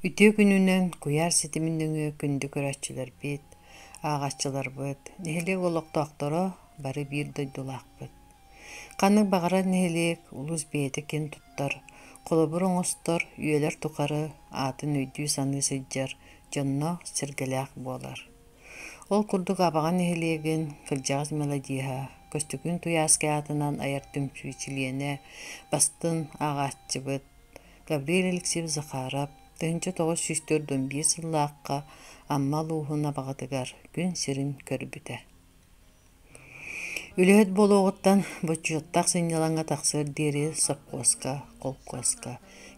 Үтүө күнүнэн куйаар ситимин нөҥүө күндү көрөөччүлэрбит, ааҕааччыларбыт, нэһилиэк олохтоохторо бары биир дойдулаахпыт. Ханнык баҕарар нэһилиэк улус бэйэтэ киэн туттар, холобур оҥостор, үйэлэр тухары аатын өйдүү-саныы сылдьар дьонно-сэргэлээх буолар. Ол курдук Абаҕа нэһилиэгин кырдьаҕас мелодиһа, Көстүкүн Туйааскай аатынан айар түмсүү чилиэнэ, бастыҥ ааҕааччыбыт Гавриил Алексеевич Захаров, тыһыынча тоҕус сүүс төрт уон биир сыллаахха Амма улууһун Абаҕатыгар күн сирин көрбүтэ. Үлэһит буолуоҕуттан бочуоттаах сынньалаҥҥа тахсыар диэри сопхуоска, холкуоска,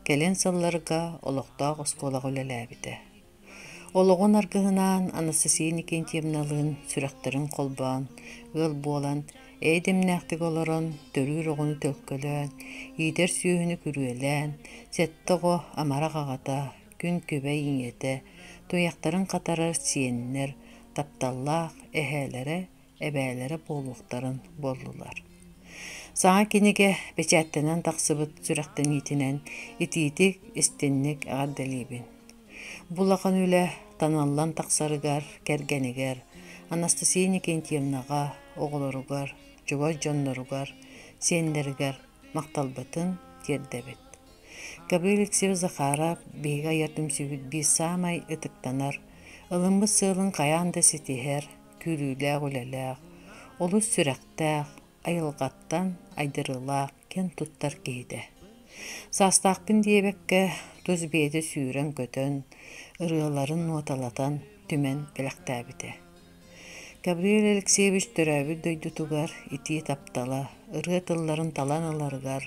кэлин сылларга олохтоох оскуолаҕа үлэлээбитэ. Олоҕун аргыһынаан Анастасия Никентьевналыын сүрэхтэрин холбоон, ыал буолан, эйдэмнээхтик олорон, төрүүр оҕону төлкөлөөн, иитэр сүөһүнү күрүөлээн, сэттэ оҕо амарах аҕата, күн күбэй ийэтэ, туйахтарын хатарар сиэннэр, тапталлаах эһээлэрэ эбээлэрэ буолуохтарын буоллулар. Саҥа кинигэ печаттанан тахсыбыт сүрэхтэниитинэн итиитик, истинник эҕэрдэлиибин. Бу улахан үлэ таналлан тахсарыгар, кэргэнигэр, Анастасия Никентьевнаҕа, оҕолоругар, чугас дьонноругар, сиэннэригэр махталбытын тиэрдэбит. Гаврил Алексеевич Захаров биһиги айар түмсүүбүт биир саамай ытыктанар, ылыммыт сыалын хайаан да ситиһэр, күүрүүлээх үлэлээх, олус сүрэхтээх, айылҕаттан айдарыылаах, киэн туттар киһитэ. Саастаахпын диэбэккэ, тус бэйэтэ сүүрэн-көтөн, ырыаларын нуоталатан, түмэн кэлэктээбитэ. Габриэл Алексеевич төрөөбүт дойдутугар итии таптала, ырыа тылларын талан ыларыгар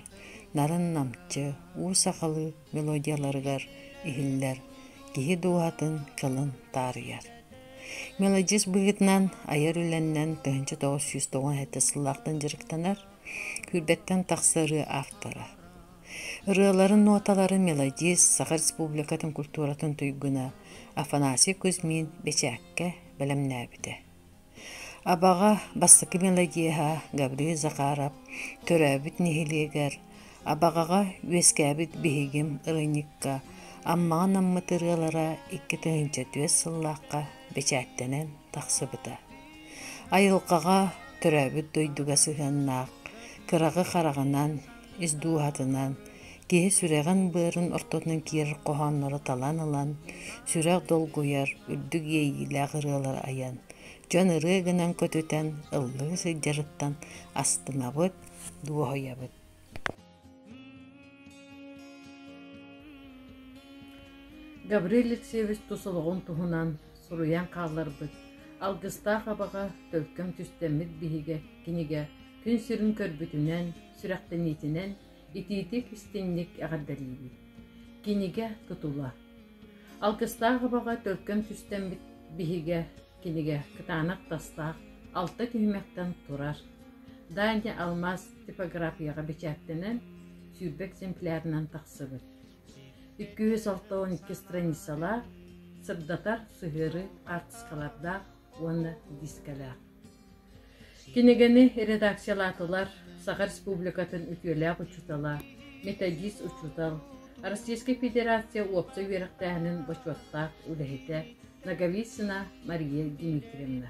нарын намчы, уу сахалыы мелодияларыгар иһиллэр киһи дууһатын кылын таарыйар. Мелодист быһыытынан айар үлэннэн тыһыынча тоҕус сүүс тоҕус эти сыллаахтан дьарыктанар, күүрбэттэн тахсарыы автора. Ырыаларын ноталарын мелодист Саха Республикатын культуратын туйгуна Афанасий Кузьмин бэчээккэ бэлэмнээбитэ. Абаҕа бастакы мелодиһа Гаврил Захаров төрөөбүт нэһилиэгэр Абаҕаҕа үөскээбит биһигим ырыынакка Аммаҕа анаммыт ырыалара икки тыһыынча түөрт сыллаахха бэчээттэнэн тахсыбыта. Айылҕаҕа, төрөөбүт дойдуга сыһыаннаах кыраҕы хараҕынан ис дууһатынан, киһи сүрэҕин-быарын ортотунан киирэр хоһооннору талан ылан, сүрэх долгуйар, үрдүк иэйиилээх ырыалары айан, дьон ырыа гынан көтүтэн, ыллыы сылдьарыттан астынабыт, дуоһуйабыт. Гаврил Алексеевич тус олоҕун туһунан суруйан хаалларбыт Алгыстаах абаҕа төлкөм түстэммит биһигэ кинигэ күн сирин көрбүтүнэн сүрэхтэниитинэн итиитик-истиҥник эҕэрдэлиибит. Кинигэ тутула. Алгыстаах абаҕа төлкөн сүстэммит биһигэ кинигэ кытаанах тастаах алта түһүмэхтэн турар. Даня Алмаз типографияҕа бэчээттэнэн сүүрбэ экземплярынан тахсыбыт. Икки жүз алта он икки страницалаах сырдатар сыһыарыы артыскалардаах уонна дискалаах. Кинигэни редакциялаатылар Саха Республикатын үтүөлээх учуутала, методист учуутал, Российскай Федерация уопсай үөрэхтээһинин бочуоттаах үлэһитэ Наговицына Мария Дмитриевна,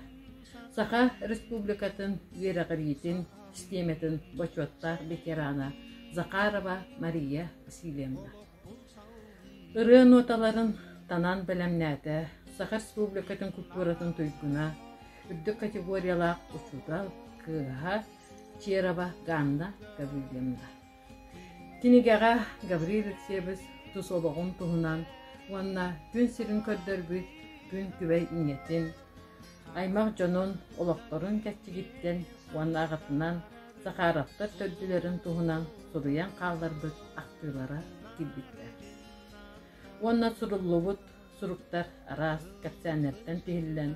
Саха Республикатын үөрэҕириитин систиэмэтин бочуоттаах ветерана Захарова Мария Васильевна Ырыа ноталарын танаан бэлэмнээтэ, Саха Республикатын культуратын туйгуна, үрдүк категориялаах учуутал, кыыһа Черова Ганна Гаврильевна. Кинигэҕэ Гаврил Алексеевич тус олоҕун туһунан уонна күн сирин көрдөрбүт күн күбэй ийэтин, аймах дьонун, олохторун чэрчигиттэн уонна аҕатынан Захаровтар төрдүлэрин туһунан суруйан хаалларбыт ахтыылара киирбиттэр. Уонна суруллубут суруктар араас кэпсээннэртэн тиһиллэн,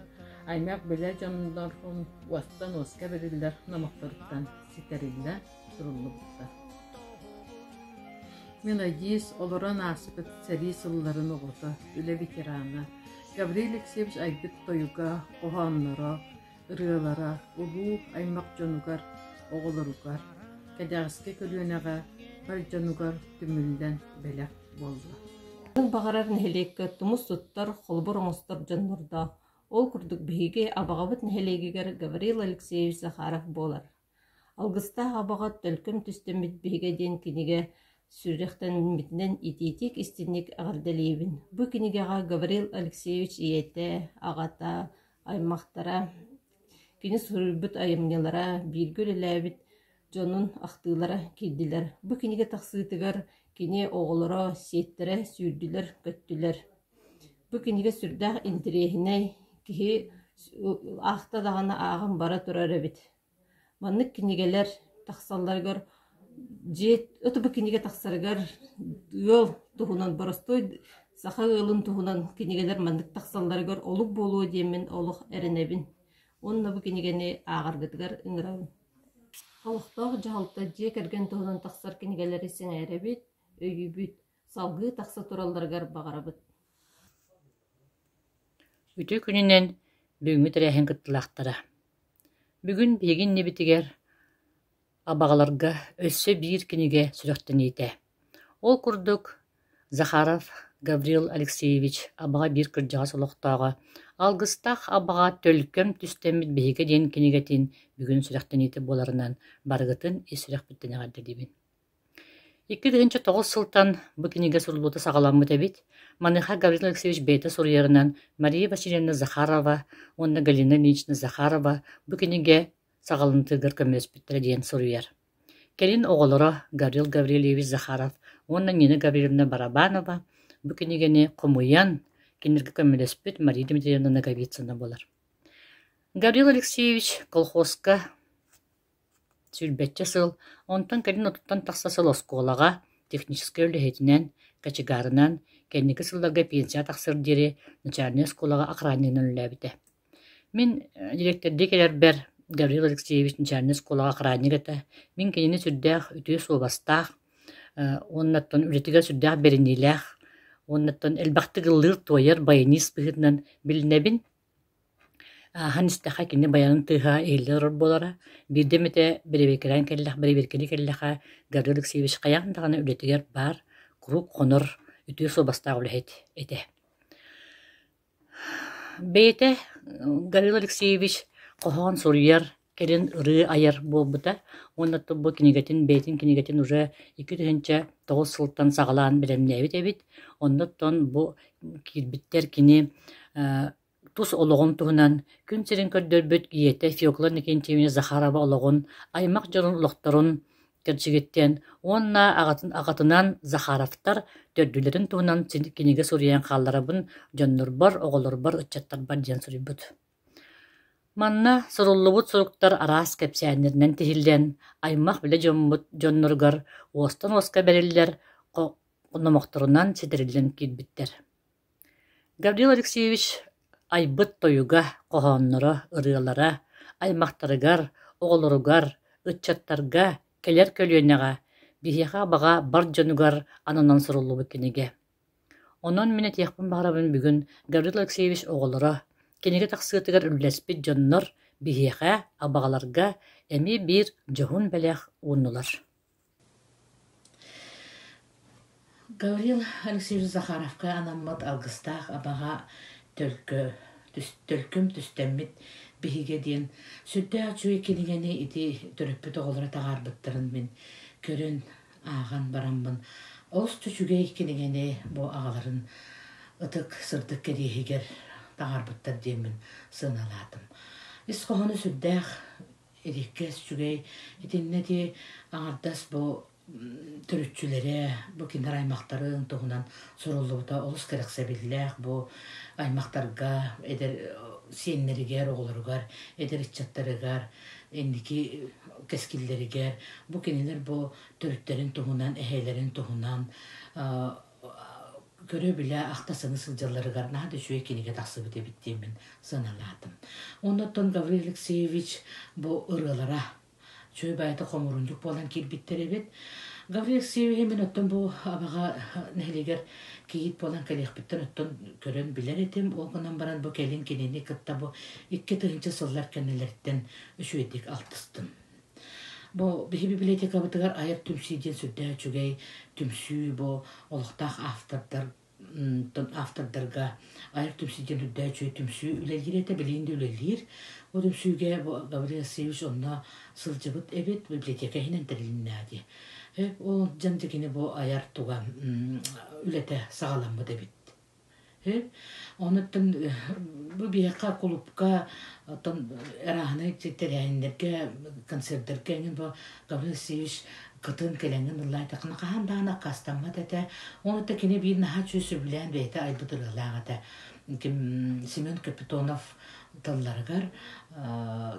аймах-билэ дьоннорун уостан уоска бэриллэр номохторуттан ситэриллэ суруллубута. Мин Айдиис олорон ааспыт сэрии сылларын оҕото, үлэ ветерана Гаврил Алексеевич айбыт тойуга, хоһоонноро, ырыалара улуу аймах дьонугар, оҕолоругар, кэдэҕэски көлүөнэҕэ бар дьонугар түмүллэн бэлэх буолла. Баҕарар нэһилиэккэ тумус туттар, холобур оҥостор дьоннордоох. Ол курдук биһиги Абаҕабыт нэһилиэгигэр Гаврил Алексеевич Захаров буолар. Алгыстаах абаҕа «Төлкөм түстэммит биһигэ» диэн кинигэ сүрэхтэммитинэн итиитик-истиҥник эҕэрдэлиибин! Бу кинигэҕэ Гаврил Алексеевич ийэтэ, аҕата, аймахтара, кини суруйбут айымньылара, бииргэ үлэлээбит дьонун ахтыылара киирдилэр. Бу кинигэ тахсыытыгар кини оҕолоро, сиэттэрэ сүүрдүлэр-көттүлэр Бу кинигэ сүрдээх интириэһинэй, киһи аахта даҕаны ааҕан бара турар эбит. Маннык кинигэлэр тахсалларыгар дьиэ ото бу кинигэ тахсарыгар ыал туһунан боростуой саха ыалын туһунан кинигэлэр маннык тахсалларыгар олук буолуо диэммин олох эрэнэбин уонна бу кинигэни ааҕаргытыгар ыҥырабын. Олохтоох дьаһалта дьиэ кэргэн туһунан тахсар кинигэлэри сэҥээрэбит, өйүүбүт Салгыы тахса туралларыгар баҕарабыт Үтүө күнүнэн бүгүҥҥү тэрээһин кыттыылаахтара! Бүгүн биһиги иннибитигэр абаҕаларга өссө биир кинигэ сүрэхтэниитэ. Ол курдук, Захаров Гаврил Алексеевич «Абаҕа биир кырдьаҕас олохтооҕо» алгыстаах абаҕа төлкөм түстэммит биһиги диэн кинигэтин бүгүн сүрэхтэниитэ буоларынан барыгытын ис сүрэхпиттэн эҕэрдэлиибин! Икки тыһыынча тоҕус сылтан бу кинигэ суруллубута саҕаламмыт эбит, маныаха Гаврил Алексеевич бэйэтэ суруйарынан Мария Васильевна Захарова уонна Галина Ильинична Захарова бу кинигэ саҕаланытыгар көмөлөспүттэрэ диэн суруйар. Кэлин оҕолоро Гаврил Гаврильевич Захаров уонна Нина Гаврильевна Барабанова бу кинигэни хомуйан, кинилэргэ көмөлөспүт Мария Дмитриевна Ноговицына буолар. Гаврил Алексеевич колхозка Сүүрбэччэ сыл, онтон кэлин отуттан тахса сыл оскуолаҕа, техническэй үлэһитинэн, кочегарынан, кэнники сылларга пенсияҕа тахсар диэри начальнай оскуолаҕа охраннигынан үлэлээбитэ. Мин дириэктэрдии кэлэрбэр Гаврил Алексеевич начальнай оскуолаҕа охранник этэ. Мин кинини сүрдээх үтүө суобастаах уоннаттан үлэтигэр сүрдээх бэриниилээх уоннаттан элбэхтик ыллыыр-туойар байанист быһыытынан билинэбин. Ааһан истэххэ кини байанын тыаһа иһиллэ турар буолара, биирдэ эмэтэ бэрэбиэркэлээн кэллэххэ, бэрэбиэркэлии кэллэххэ Гаврил Алексеевич хайаан даҕаны үлэтигэр баар куруук хонор, үтүө суобастаах үлэһит этэ. Бэйэтэ Гаврил Алексеевич хоһоон суруйар кэлин ырыы айар буолбута уонна бу кинигэтин бэйэтин кинигэтин уже икки тыһыынча тоҕус сылтан саҕалаан бэлэмнээбит эбит оннуттан бу киирбиттэр кини тус олоҕун туһунан күн сирин көрдөрбүт ийэтэ Фекла Никентьевна Захарова олоҕун аймах дьонун олохторун кэрчигиттэн уонна аҕатын аҕатынан Захаровтар төрдүлэрин туһунан кинигэ суруйан хаалларабын дьоннорбор оҕолорбор ыччаттарбар диэн суруйбут Манна суруллубут суруктар араас кэпсээннэринэн тиһиллэн, аймах-билэ дьоммут дьонноругар уостан уоска бэриллэр номохторунан ситэриллэн киирбиттэр Гаврил Алексеевич айбыт тойуга, хоһоонноро, ырыалара аймахтарыгар, оҕолоругар, ыччаттарга кэлэр көлүөнэҕэ биһиэхэ баҕа бар дьонугар ананан суруллубут кинигэ Онон мин этиэхпин баҕарабын бүгүн Гаврил Алексеевич оҕолоро, кинигэ тахсыытыгар үллэспит дьоннор биһиэхэ, абаҕаларга эмиэ биир дьоһун бэлэх ууннулар Гаврил Алексеевич Захаровка анаммыт алгыстаах абаҕа төлкө төлкүм түстэммит биһигэ диэн сүрдээх үчүгэй кинигэни ити төрөппүт оҕолоро таҕаарбыттарын мин көрөн ааҕан бараммын, олус үчүгэй кинигэни бу аҕаларын ытык сырдык кэриэһигэр таҥарбыттар диэммин сыаналаатым. Ис хоһооно сүрдээх ириккэс, үчүгэй. Итиннэ дии аҥардас бу төрүччүлэрэ, бу кинилэр аймахтарын туһунан суруллубута олус кэрэхсэбиллээх. Бу аймахтарга, эдэр сиэннэригэр, оҕолоругар, эдэр ыччаттарыгар инники кэскиллэригэр, бу кинилэр бу төрүттэрин туһунан, эһээлэрин туһунан көрө-билэ, ахта-сана сылдьалларыгар наһаа да үчүгэй кинигэ тахсыбыт эбит диэммин санаалаатым. Оннуттан Гаврил Алексеевич бу ырыалара чөй баайта хомурундук буолан кирбиттэр эбит. Гаврил Алексеевиһи мен оттон бу абаҕа нэһилигэр кийит буолан кэлиэхпиттэн оттон көрөн билэр этим. Ол гынан баран бу кэлин кинини кытта бу икки тыһынча сыллар кэннилэриттэн үчүгэйдик алтыстым. Бу биһи библиотекабытыгар айар түмсүү диэн сүрдээх үчүгэй түмсүү бу олохтоох автордар автордарга айар түмсүү диэн үрдээх үчүгэй түмсүү үлэлиир этэ билигин да үлэлиир бу түмсүүгэ Гаврил Васильевич онно сылдьыбыт эбит библиотека иһинэн тэрилиннээди ол дьон дьикини бу айар туга үлэтэ саҕаламмыт эбит Онуттан бу биһиэхэ кулуупка оттон арааһынай тэрээһиннэргэ, концердарга эҥин бу Гаврил Васильевич кытын кэлэҥҥин ыллаатаххына хаһан даҕаны аккаастаммат этэ. Онута кини биир наһаа үчүгэй сөбүлээн бэйэтэ айбыт ырыалаах этэ. Ким Семен Капитонов тылларыгар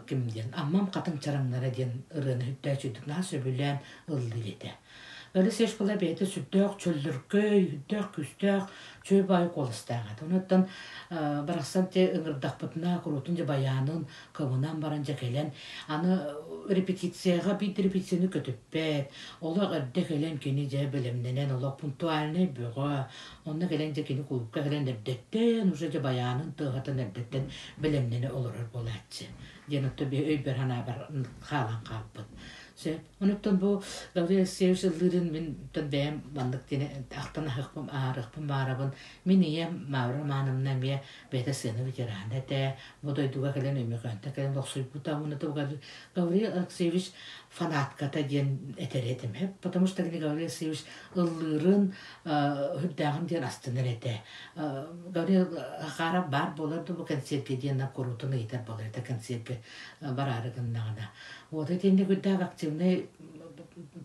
ким диэн Аммам хатыҥ чараҥнара диэн ырыаны сүрдээх сөбүлээн ыллыы этэ. Өлүс эш кыла бэйэтэ сүрдөөх чөллөркөй, үрдээх-күүстээх чөй баай куоластаах этэ. Онуттан барахсан те ыҥырдахпытына куруутун дьэ баяанын кыбынан баран дьэ кэлэн аны репетицияҕа биир репетицияны көтүппэт олох эрдэ кэлэн кини дьэ бэлэмнэнэн олох пунктуальнай бөҕө онно кэлэн дьэ кини кулуупка кэлэн эрдэттэн уже дьэ баяанын тыаһатан эрдэттэн бэлэмнэнэ олорор буолааччы диэн отто би өйбөр санаабар хаалан хаалбыт сөп Онуттан бу Гаврил Алексеевич ыллыырын мин оттон бэйэм маннык диэни ахтан аһыахпын аарыахпын баарабын. Мин ийэм Мавра Романовна эмиэ бэйэтэ сыана ветерана этэ. Бу дойдуга кэлэн Өймөкөөнтө кэлэн охсуйбута уонна тугугар Гаврил Алексеевич фанатката диэн этэр этим. Потому что кини Гаврил Алексеевич ыллыырын үрдээҕин диэн астынар этэ. Гаврил Хахаров баар буолар да бу концертгэ диэн куруутун ыйытар болар этэ концертгэ бараары гыннаҕына. Вот итиэннэ үрдээх активнай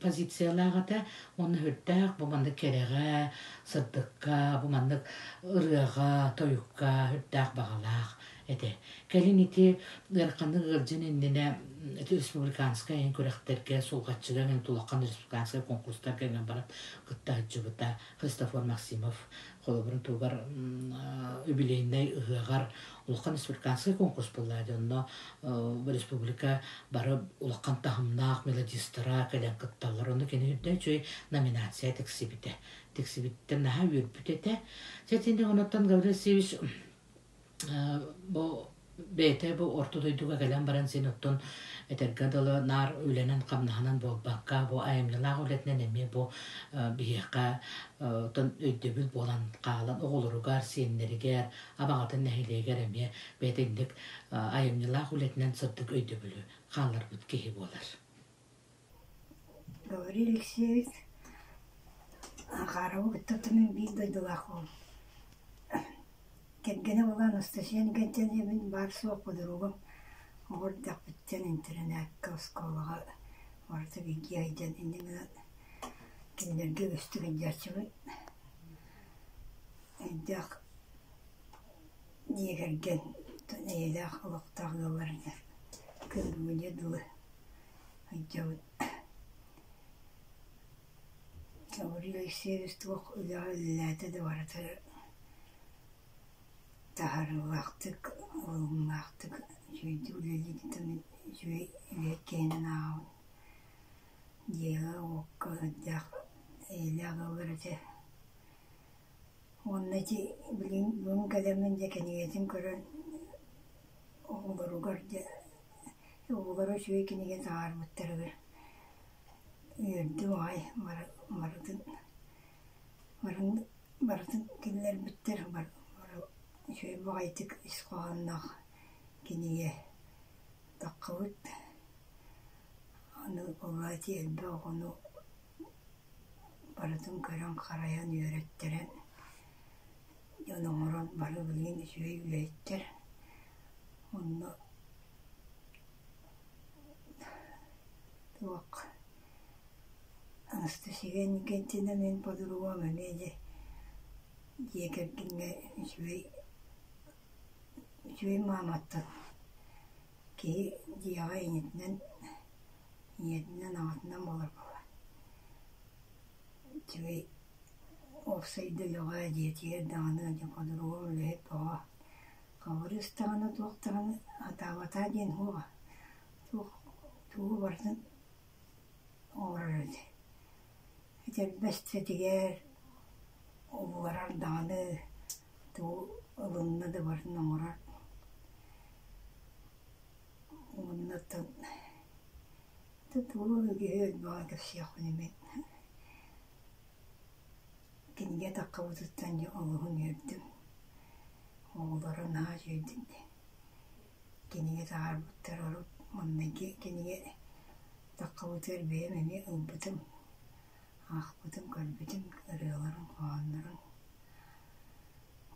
позициялаах этэ уонна үрдээх бу маннык кэрэҕэ, сырдыкка, бу маннык ырыаҕа, тойукка үрдээх баҕалаах этэ. Кэлин ити ыараханнык ыалдьан иннинэ республиканскай иһин күрэхтэргэ сулҕаччыга мен тулахан республиканскай конкурстарга иҥэн баран кытта сылдьыбыта Христофор Максимов холобурун туһугар юбилейнай ыһыаҕар улахан республиканский конкурс буолла дьэ онно бу республика бары улахан таһымнаах мелодистара кэлэн кытталлар онно кини үрдэ үчүгэй номинация тиксибитэ тиксибиттэн наһаа үөрбүт этэ чэтинник онуттан Гаврил Сивич бу бэйэтэ бу орто дойдуга кэлэн баран син оттон этэргэ дылы наар үлэнэн хамнаһынан буолбакка бу айымньылаах үлэтинэн эмиэ бу биһиэхэ оттон өйдөбүл буолан хаалан оҕолоругар сиэннэригэр Абаҕатын нэһилиэгэр эмиэ бээтинньик айымньылаах үлэтинэн сырдык өйдөбүлү хаалларбыт киһи буолар. Гаврил Алексеевич Анхарову кытта тутунан биир дойдулаах уол. Кэргэнэ буолан Анастасия Гантельевин баар-суох подругум оҕор дьахпыттан интэринээккэ оскуолаҕа барыта бииргэ айдьан иннинэ кинилэргэ үгүстүк ыйдьааччыбыт Хайдах дьиэ кэргэн эйэлээх олохтоох ыаллар дьэ кыһыммыдьы дылы сылдьабыт Гаврил Алексеевич туох үлэҕэ үлэлээтэ да барыта таһаарыылаахтык, уһугуннаахтык үчүгэйдик үлэлиититтэн үчүгэй үлэ киэнин ааҕабын. Дьиэҕэ уокка сылдьаах эйэлээх ыаллар этэ Уонна ити билигин бүгүн кэлэммин дьэ кинигэтин көрөн оҕолоругар дьэ оҕолоро үчүгэй кинигэ таһаарбыттарыгар үөрдүм аҕай бары барытын барын барытын киллэрбиттэр үчүгэй баҕайытык ис хоһоонноох кинигэ таххыбыт аны буолла ити элбэх оҕону Барытын көрөн-харайан, үөрэттэрэн, дьон оҥорон бары билигин үчүгэй үлэһиттэр. Онно туох Анастасия Иннокентьевна мин подругам эмиэ дьэ дьиэ кэргэҥҥэ үчүгэй үчүгэй мааматтан киһи дьиэҕэ ийэтинэн ийэтинэн-аҕатынан буоларбаба үчүгэй уопсайда үлэҕэ, дьиэтигэр даҕаны, хонуруом, үлэһит оҕо хабырыыс даҕаны, туох даҕаны сатаабатаа диэн суоҕа туох тугу барытын оҥорор эбит. Этэрбэстэтигэр угуорар даҕаны тугу ылынна да барытын оҥорор Оннуттан тутуун үгүһүн баҕар кэпсиэхпин имин кинигэ таххабытыттан дьэ олуһун үөрдүм. Оҕолоро наһаа үчүгэйдик кинигэ таһаарбыттар урут маҥнайгы кинигэ таххабытыгар бэйэм эмиэ ылбытым, аахпытым, көрбүтүм ырыаларын, хоһооннорун.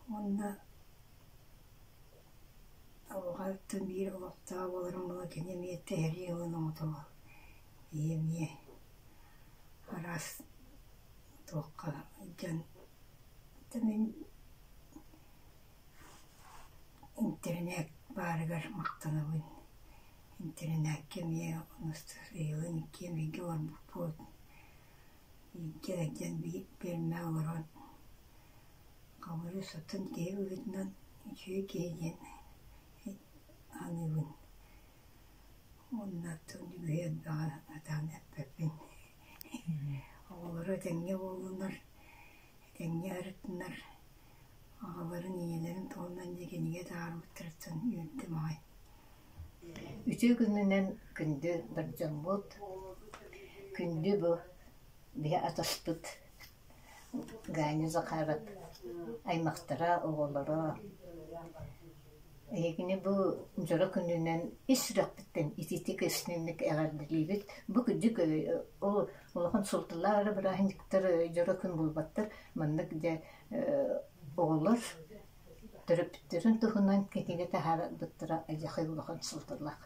Уонна Оҕоҕо аттан биир олохтоох буоларым буолуо кини эмиэ тэһэлии ылан оҥотоло. Ийэ эмиэ араас туохха дьон интэринээт баарыгар махтанабын. Интэринээккэ эмиэ ыйылын иккиэн бииргэ олорбуппут. Бииргэ илдьэн биир пиэрмэҕэ олорон Хамыыһыйа сытан киһи быһыытынан үчүгэй киһи диэн саныыбын. Уонна атын үбүһү элбэҕи сатаан эппэппин. Оҕолоро этэҥҥэ буоллунар, этэҥҥэ ырытыннар, аҕаларын, ийэлэрин туһунан дии кинигэ таһаарбыттарыттан үөрдүм аҕай. Үтүө күнүнэн күндү бар дьоммут, күндү бу биһи атаспыт Ганя Захаров аймахтара, оҕолоро эһигини бу дьоро күнүнэн ис сүрэхпиттэн итиитик истиҥник эҕэрдэлиибит. Бу кырдьык ол улахан суолталаах бырааһынньыктар дьоро күн буолбаттар. Маннык дьэ оҕолор төрөппүттэрин туһунан кинигэ таһаарарбыттара эдьэхэй улахан суолталаах.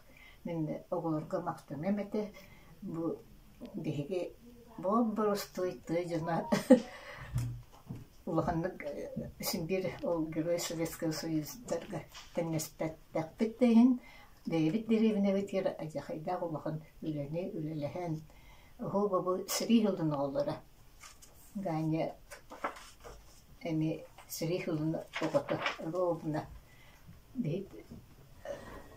Мин оҕолорго махтаныам этэ. Бу Биһиги боруостуйтуй дьоно улаханнык симбир ол Герой Советского Союздарга тэҥнэспэтэхпит да иһин бэйэбит дэриэбинэбитигэр алдьархайдаах улахан үлэни үлэлэһэн оһу-бобу сэрии сылын оҕолоро Ганя эми сэрии сылын оҕото роубна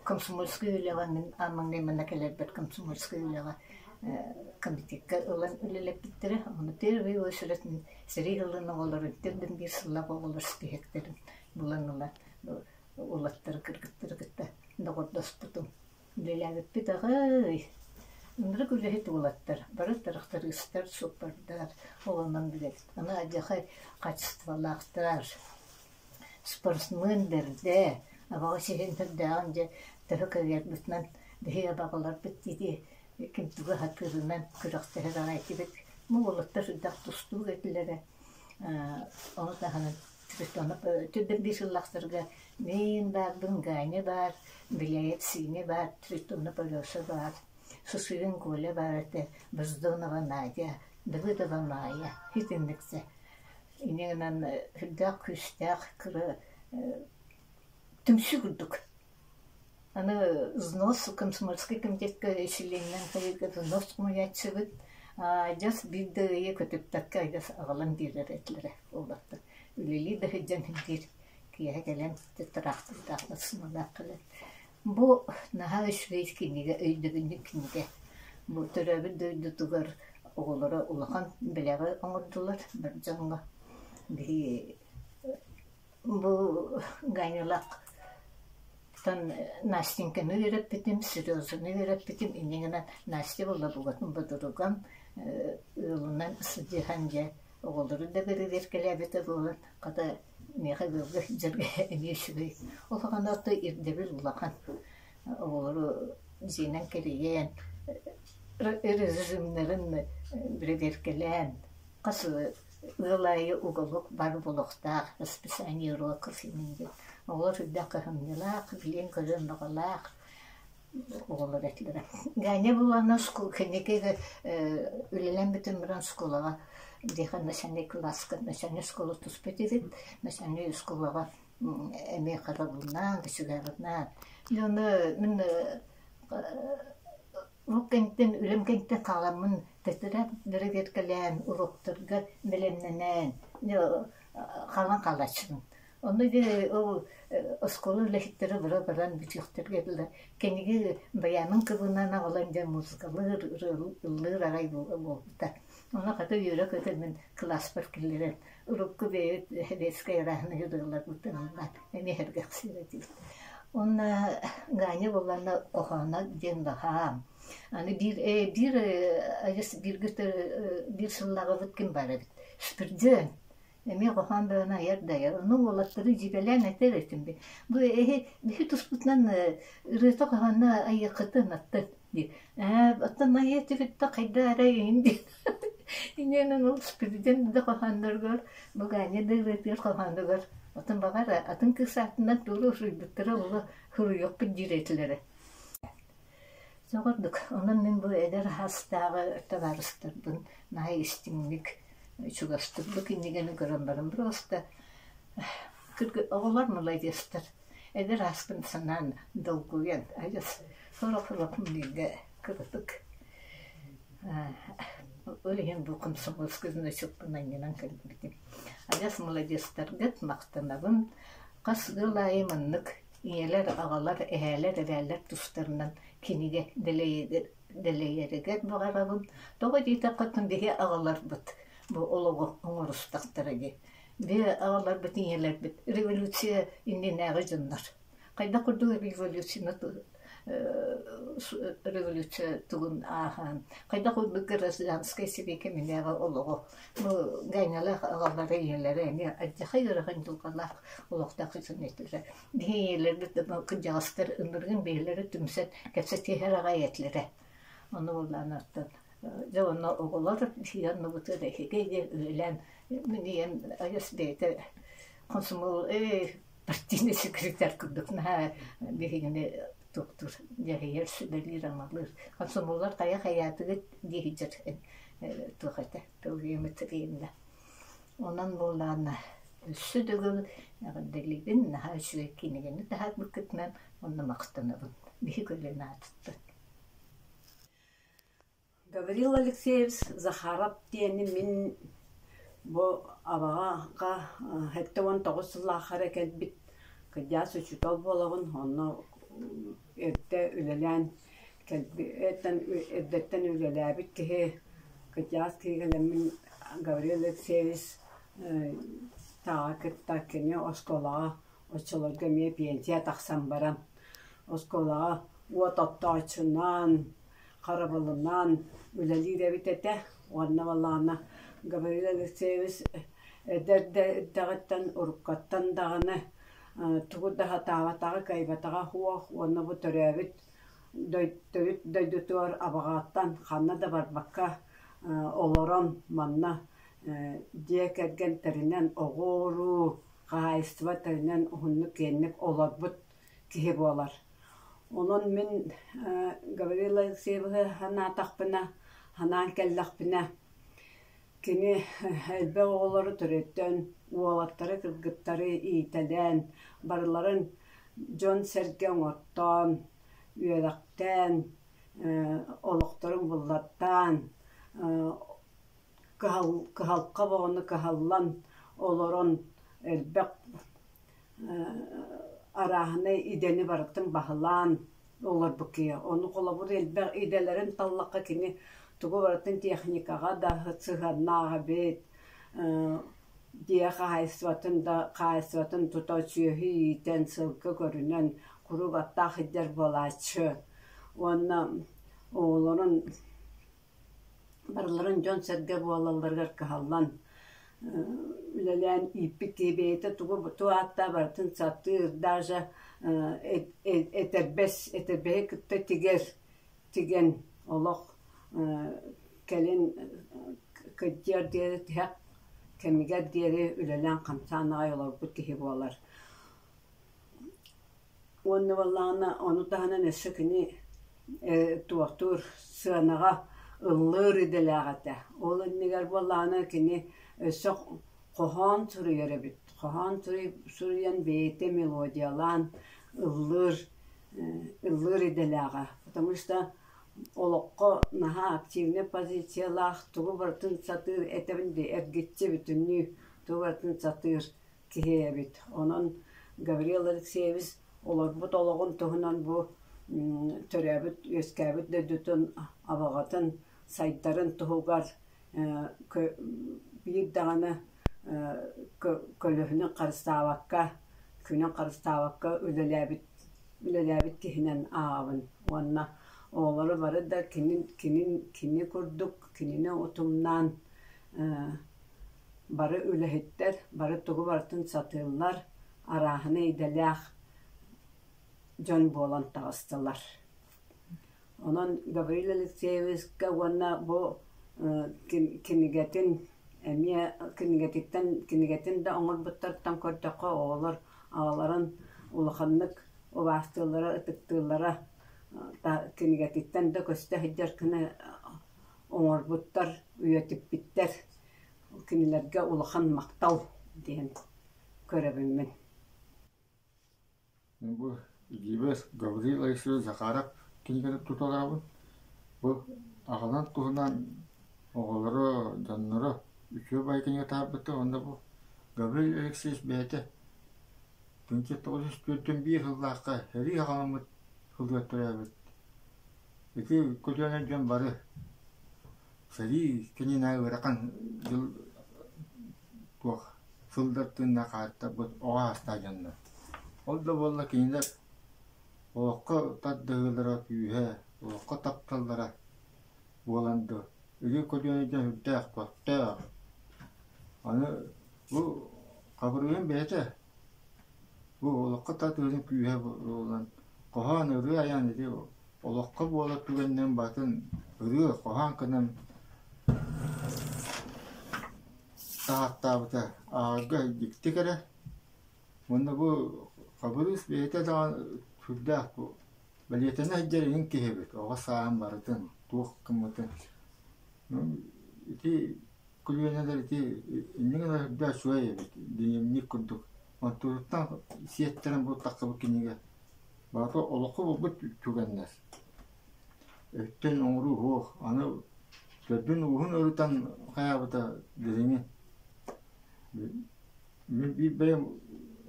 Комсомольскай үлэҕэ мин ааммын гынна кэлэрбит комсомольскай үлэҕэ комитекка ылан үлэлэппиттэрэ. Ону первый ол сүрэтин сэрии ылан оҕолору бүтэрдим биир сыллаах оҕолор испииһэктэрин булан ыла улахтары кыргыттары кытта доҕордоспутум Үлэлээбиппит аҕай. Ынырык үлэһит уолаттар бары тырахтарыыстар, суппардар оҕонон билэбит. Аны алдьархай хаачыстыбалаахтар, спортсмен бэрдэ, абаҕас иһин төрдөөҕүн дьэ төһө кавиарбытынан биһиги абаҕаларбыт диэки ким тугу аһатыырынан күрэхтэһэр аҕай этибит. Бу уолаттар үрдэх тустуук этилэрэ. Ону таһынан Түрдэр биир сыллахтарга мин баарбын Ганя баар, Беляев Синя баар, Цветуна Полеса баар, Сысыгин Коля баар этэ, Бездонова Надя, Давыдова Майя итинниксэ. Ини гынан үрдээх күүстээх кыра түмсүү курдук Аны взнос комсомольскай кэмитиэккэ ишелиэнинэн хайыыга взнос хомуйааччыбыт дьас биир да ыйы көтүппэккэ дьас аҕалан биэрэр этилэрэ буолбаттар. Үлэлии да сылдьан иһигэр киэһэ кэлэн тыраахтырдаах ыксымалаах кэлэр. Бу наһаа үчүгэй кинигэ, өйдөбүнньүк кинигэ. Бу төрөөбүт дойдутугар оҕолоро улахан бэлэҕи оҥордулар бар дьоҥҥо биһиги Бу Гайнылактан Настеньканы үөрэппитим, Серёзаны үөрэппитим, иннигинэн Настя буолла букатын бодоругам ыалынан сыдьыһан дьэ оҕолору да бэрэбиэркэлээбитэ буолан хата миэхэ ыалга сылдьарга эмиэ үчүгэй. Ол аҕаны орто ирдэбил улахан. Оҕолору дьиэнэн кэрийэн режимнэрин бэрэбиэркэлээн хас Ыал аайы уголук бар буолуохтаах, расписаниеруа кофейным диэн. Оҕолор үрдэх кыһамньылаах, билиэн-көрүөн баҕалаах оҕолор этилэрэ. Ганя бу уонна скул кэнники үлэлэн бүтэн баран скулаҕа биһиэхэ начальнай кылааска начальнай оскуола туспут эбит. Начальнай оскуолаҕа эмиэ харабылнаан, төчүгэҕинээн. Дьэ ону мин Ол кэнниттэн үлэм кэнниттэн халаммын тэтэрээт бэрэбиэркэлээн уруоктарга бэлэмнэнэн халан хаалааччытым. Онно диэри ол оскуола үлэһиттэрэ бара баран бүтүөхтэргэ дылы киниги баяным кыбыынан аҕалан диэн музыкалыыр, ырыалыыр арай буолбута. Онно хата үөрэ-көтө мин кылааспар киллэрэн урукку бэйэбит Лэһэлиэскэй арааһын ырыаларбытын ылла эмиэ эргэхсиирэ дии. Уонна Ганя буолланна «Кохоонок» диэн баһаам. Аны биир э биир ажыс бииргэ биир сыллаҕыбыт ким баар эбит. Спирден. Эмиэ хоһоон бөҕөнү айар да айар. Онно уолаттары дьиибэлээн этэр этим бин. Бу эһи биһи туспутунан ырыата хоһоонно айыаххытын атты диир ээ оттон айыы түһүттэ хайда эрэ иһин диир иниэнэн ол президент да хоһоонноругар букааньа да ылытыыр хоһоонугар отон баҕара атын кыыс аатынан туора суруйбуттара оло суруйуохпут диир этилэрэ соҕурдук онон мин бу эдэр хаастааҕы табаарыстарбын наһаа истиҥник чугастык бу кинигэни көрөн баран просто оҕолор маладьыастар Эдэр ааспын санаан, долгуйан, адьас сорох сорохпун биирдэ кыратык ол иһин бу комсомольскай значокпун анньынан көрбүтүм. Адьас маладьыастаргыт, махтанабын. Хас ыал аайы маннык ийэлэр, аҕалар, эһээлэр, эбээлэр тустарынан кинигэ дэлэйэригэр баҕарабын. Тоҕо диэтэххэ, оттон биһи аҕаларбыт бу олоҕу оҥорустахтара дии. Дьэ, аҕаларбыт ийэлэрбит революция иннинээҕи дьоннор. Хайдах курдук революцияны революция тугун ааһаан, хайдах курдук гражданскай сибии кэминээҕи олоҕу бу Гаанялаах аҕалара ийэлэрэ эмиэ ардьахай ыарахан дьылҕалаах олохтоох ситимнэтилэр. Биһи ийэлэрбит кырдьаҕастар ыныргын бэйэлэрэ түмсэн кэпсэтиһэр аҕай этилэрэ. Ону булаанаттан дьэ уонна оҕолор сиир оннубутун эһиги үлэлээн минийэн айас бэйэтэ хомсомол партийнай секретарь курдук наһаа биһигини туттур дьаһайар сүбэлиир амалыыр хомсомоллор хайа хайаатыгыт дии сыдьар туох этэ Онон буоллаҕына өссө дьыл эҕэрдэлиибин, наһаа үчүгэй кинигэни таһаарбыккытынан уонна махтанабын. Биһи көлүөн аатыттан Гаврил Алексеевич Захаров диэни мин бу абаҕаҕа сэттэ уон тоҕус сыллаахара кэлбит кырдьаҕас учуутал буолабын, онно эрдэ үлэлээн эрдиттэн эрдэттэн үлэлээбит киһи кытйаас киһигэлэммин Гаврил Алексеевич Таҕа кытта кини оскуолаҕа оччолорго эмиэ пенсия тахсан баран оскуолаҕа уот оттооччунан харабылынан үлэлиир эбит этэ уонна балаҕана Гаврил Алексеевич эрдэ эрдэҕиттэн уруккаттан даҕаны тугу да сатаабатаҕа, кыайбатаҕа суох уонна бу төрөөбүт төрүт дойдутугар абаҕаттан ханна да барбакка олорон манна дьиэ кэргэн тэринэн оҕо-уруу хаһаайыстыба тэринэн уһуннук-киэҥник олорбут киһи буолар. Онон мин Гаврила Алексееваны санаатахпына, санаан кэллэхпинэ Кини элбэх оҕолору төрөттөн, уолаттары кыргыттары иитэлээн, барыларын дьон-сэргэ оҥортоон, үөрэхтээн, олохторун буллартаан, кыһалҕа бөҕөнү кыһаллан олорон элбэх арааһынай идэни барытын баһылаан Олорбут киһи. Ону холобур элбэх идэлэрин таллахха кини тугу барытын техникаҕа да сыһыаннаабыт, дьиэ хаһаайыстыбатын да хаһаайыстыбатын тута сүөһү иитэн, сылгы көрүнэн куруук аттаах сылдьар буолааччы. Уонна оҕолорун Барыларын дьон-сэргэ буолалларыгар кыһаллан үлэлээн ииппит киһи бэйэтэ тугу туох ааттаах барытын сатыыр, даже этэрбэс этэрбэһи кытта тигэр тигэн олох кэлин кырдьыар диэри тиһэх кэмигэр диэри үлэлээн хамсаан аҕай олорбут киһи буолар. Уонна буоллаҕына ону таһынан өссө кини ээ туохтуур сыанаҕа ыллыыр идэлээх этэ. Ол иннигэр буоллаҕына кини өссө хоһоон суруйар эбит. Хоһоон суруйан бэйэтэ мелодиялаан ыллыыр ыллыыр идэлээҕэ. Потому что олоххо наһаа активнай позициялаах, тугу барытын сатыыр, этэбин дии, эргиччи бүтүннүү тугу барытын сатыыр киһи эбит. Онон Гаврил Алексеевич олорбут олоҕун туһунан бу төрөөбүт, үөскээбит дойдутун абаҕатын сайдарын туһугар биир даҕаны көлөһүнүн харыстаабакка, күнүн харыстаабакка үлэлээбит үлэлээбит киһинэн ааҕабын уонна оҕолору бары да кинин кинин кини курдук кинини утумнаан Бары үлэһиттэр, бары тугу барытын сатыыллар, арааһына идэлээх дьон буолан таҕыстылар. Онон Гаврил Алексеевичка уонна бу кинигэтин эмиэ кинигэтиттэн кинигэтин да оҥорбуттартан көрдөххө оҕолор аҕаларын улаханнык убаастыыллара ытыктыыллара кинигэтиттэн да көстө сылдьар гына оҥорбуттар, үйэтиппиттэр. Кинилэргэ улахан махтал диэн көрөбүммүн. Бу Гивес Гаврил Алексеевич Захаров кинигэтин туталаабын. Бу аҕалан туһунан оҕолоро, дьонноро үтүө бай кинигэ таһаарбыта уонна бу Гаврил Алексеевич бэйэтэ 1904 сыллаахха сэрии аҕаммыт сылыгар төрөөбүт Ити көлүөнэ дьон бары сэрии кэннинэ ыарахан дьыл туох сылдар тыынна хаартарбыт оҕо саастаах дьоннор. Ол да буоллар кинилэр олоххо тардыһыылара күүһэ, олоххо тапталлара буолан дуо, ити көлүөнэ дьон сүрдээх көхтөөх. Аны бу хабырыыһым бэйэтэ Бу олоххо тат ыарыы күүһэ буолан, хоһоон ырыа айаан ити олоххо буолар түгэнинэн батын ырыа хоһоон гынан таһаартаабыта ааҕарга дьикти кэрэ. Уонна бу Хабырыыс бэйэтэ даҕаны сүрдээх бу Бэлиэтэнэ сылдьар эҥин киһибит, оҕо сааһым барытын, туох гыммытын. Ити көлүөнэлэр ити иннинэ гына үрдэ үчүгэй эбит, дневник курдук. Оттуутуттан сиэттэрэн бултаххыбыт кинигэ, барыта олоххо булбут түгэннэр. Өттөн оҥоруу суох, аны төрдүн-ууһун ырытан хайаабыта дириҥин. Мин биир бэйэм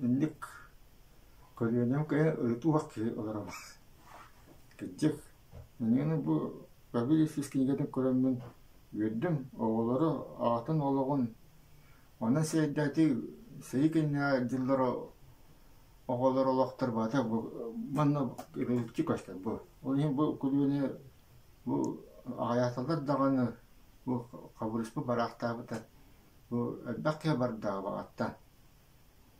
инник көлүөнэм кэйэ ырытыах киһи олором. Кырдьык, ниҥинэ бу пробилище кинигэтин көрөммүн үөрдүм, оҕолору, аҕатын олоҕун, онон сирэйдээхтии сэрии кэннинээҕи дьыллара оҕолор олохтор барыта бу манна революции көстөр бу. Ол иһин бу көлүөнэ бу аҕыйаатылар даҕаны, бу хабырыспыт бараахтаабыта. Бу элбэх киһи бардаҕа баҕаттан.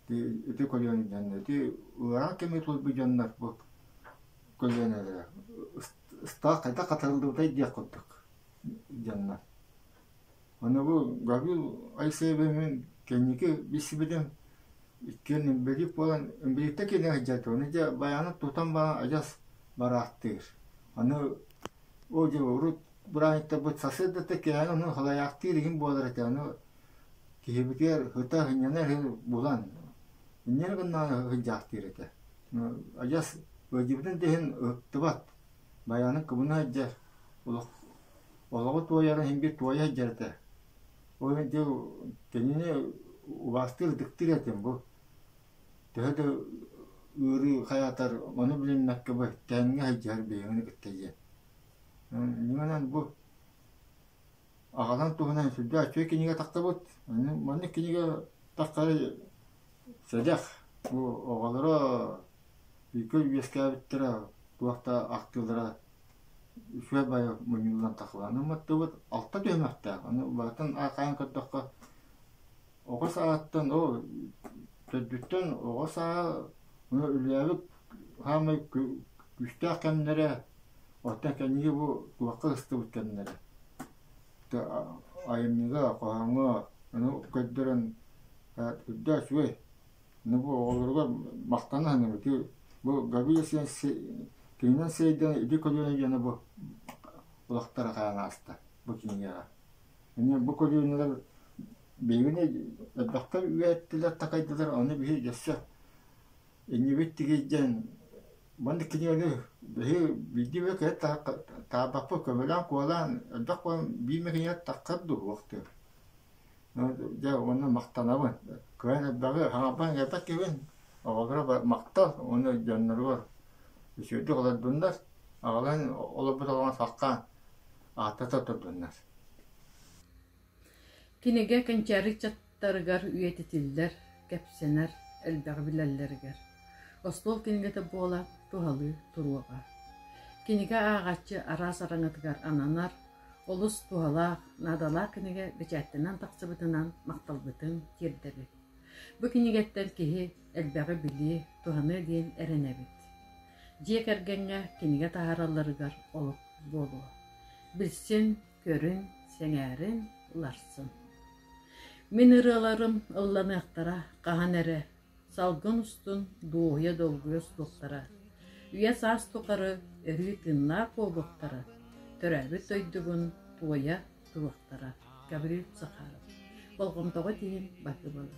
Ити ити көлүөнэттэн ити ыарахан кэми тулуйбут дьоннор бу көлүөнэлэрэ ыстаах хайдах хатарыллыбытай диэх курдук дьоннор. Ону бу Гаврил Айсеевимин кэнники билсибитим иккиэн инбэлиит буолан инбэлииттэ кииринэ сылдьар ону дьэ байаанын тутан баран адьас бараахтыыр. Аны ол дьэ урут бырааһыттарбыт сарсыардата кээһэн онон халайаахтыыр игин буолар этэ аны киһибитигэр ыта сынньанар иһи булан иннинэ гыннаҕына сындьаахтыыр этэ адьас ыалдьыбытын да иһин ыһыктыбат байаанын кыбына сылдьар олох олоҕу туойарын иһин биир туойа сылдьар этэ ол иһин ити кинини убаастыыр ытыктыыр этим бу төһө да ыарыы хайаатар ону билиммэккэ бу кэннэ сылдьар биһигини кытта диэн Иннинэн бу аҕалан туһунан сүрдээх үчүгэй кинигэ тахсыбыт. Маннык кинигэ тахсары сэдэх. Бу оҕолоро бииргэ үөскээбиттэрэ туох да ахтыылара үчүгэй байа мунньуллан тахлаанын маттыбыт. Алта түһүмэхтээх. Аны барытын архаайан көрдөххө оҕо саҕаттан оо төрдүттэн оҕо сааһа үлэлээбит саамай күүстээх кэмнэрэ оттон кэнники бу туохха ыстыбыт кэмнэрэ айымньыга хоһооҥҥо аны көрдөрөн үрдээ үчүгэй аны бу оҕолоругар махтана саныыбыт бу Габия кининэн сиэйдэн иди көлүөнэ диэни бу олохторо хаан ааста бу кинигэҕэ эмиэ бу көлүөнэлэр Билигин элбэхтэр үөһэттилэр, такайдылар, ону биһи өссө иннибит тигий диэн маннык кинигэни биһи биирдии эмэ киһи таабаппыт, көмөлөөн-куолаан элбэх буолан биир эмэ кинигэ таххар дуу, уохтуор. Дьэ уонна махтанабын. Кыһан элбэҕи хаҥарбан иҥэрбэт киһибин оҕолоругар махтал уонна дьонноругар үчүгэйдик олордуннар, аҕалан олорбут оҕоҕо хаххаан ааттата турдуннар. Кинигэ кэнчээри ыччаттарыгар үйэтитиллэр, кэпсэнэр, элбэҕи билэллэригэр, остуол кинигэтэ буола туһалыы туруоҕа. Кинигэ ааҕааччы араас араҥатыгар ананар, олус туһалаах, наадалаах кинигэ бэчээттэнэн тахсыбытынан махталбытын тиэрдэбит. Бу кинигэттэн киһи элбэҕи билиэ, туһаныа диэн эрэнэбит. Дьиэ кэргэҥҥэ кинигэ таһааралларыгар олук буолуо. Билсин, көрүн, сэҥээрин, уларсын. Мин ырыаларым ылланыахтара хаһан эрэ, салгын устун дуоһуйа долгуйа суохтара, үйэ-саас тухары өрүү тыыннаах буолуохтара, төрөөбүт дойдубун туойа туруохтара. Гаврил Сахаров. Болҕомтоҕо тиһин батыбала.